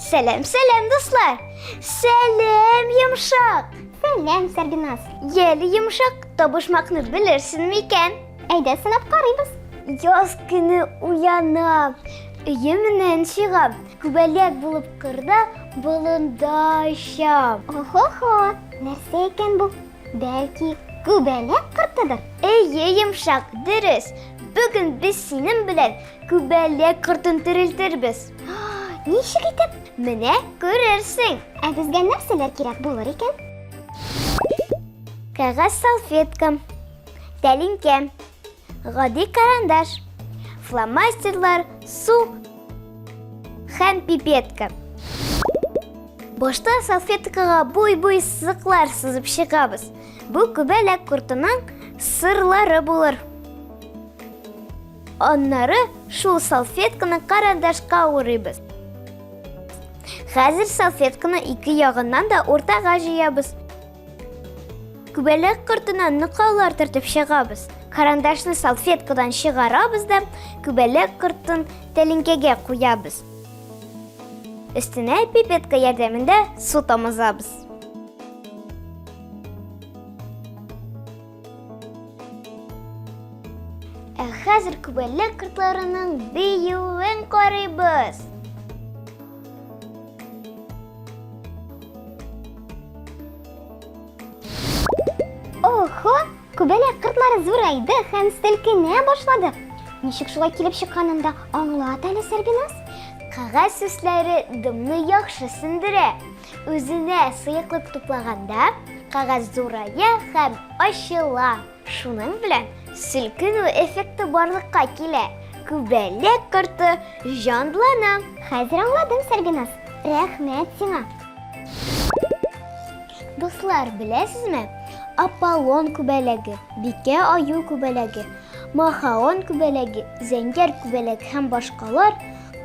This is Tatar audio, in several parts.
Сәләм, сәләм, дуслар! Сәләм, йомшак! Сәләм, Сәргиназ! Еле йомшак табышмакны белерсен микән? Әйдә, сынап карыйбыз. Яз көне уянам, өемнән чыгам, Күбәләк булып кырда болында очам. Охо-хо, нәрсә икән бу? Бәлки, күбәләк кортыдыр? Әйе, йомшак, дөрес. Бүген без синең белән күбәләк кортын терелтербез. Ничек итеп? Менә күрерсең. Ә безгә нәрсәләр кирәк булыр икән? Кәгазь салфетка, тәлинкә, Гади карандаш, фломастерлар, су һәм пипетка. Башта салфеткага буй-буй сызыклар сызып чыгабыз. Бу күбәләк кортының сырлары булыр. Аннары шул салфетканы карандашка урыйбыз. Хәзер салфетканы ике ягыннан да уртага җыябыз. Күбәләк кортына нокаулар төртеп чыгабыз. Карандашны салфеткадан чыгарабыз да, күбәләк кортын тәлинкәгә куябыз. Өстенә пипетка ярдәмендә су тамызабыз. Ә хәзер күбәләк кортларының биюен карыйбыз. Охо, күбәләк кортлары зурайды һәм селкенә башлады. Ничек шулай килеп чыкканын да аңлат әле, Сәрбиназ. Кәгазь сүсләре дымны яхшы сендерә. Үзенә сыеклык туплаганда, кагаз зурая һәм ачыла. Шуның белән селкенү эффекты барлыкка килә. Күбәләк корты җанлана. Хәзер аңладым, Сәрбиназ. Рәхмәт сиңа. Дуслар, беләсезме? Аполлон күбәләге, Бикә аю күбәләге, Махаон күбәләге, Зәңгәр күбәләк һәм башкалар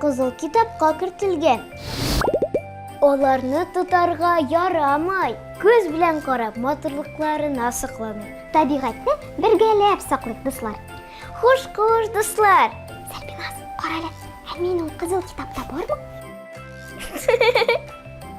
Кызыл китапка кертелгән. Аларны тотарга ярамай. Күз белән карап, матурлыкларына сокланыйк. Табигатьне бергәләп саклыйк, дуслар. Хуш-хуш, дуслар! Сәрбиназ, карале, ә мин ул кызыл китапта бармы?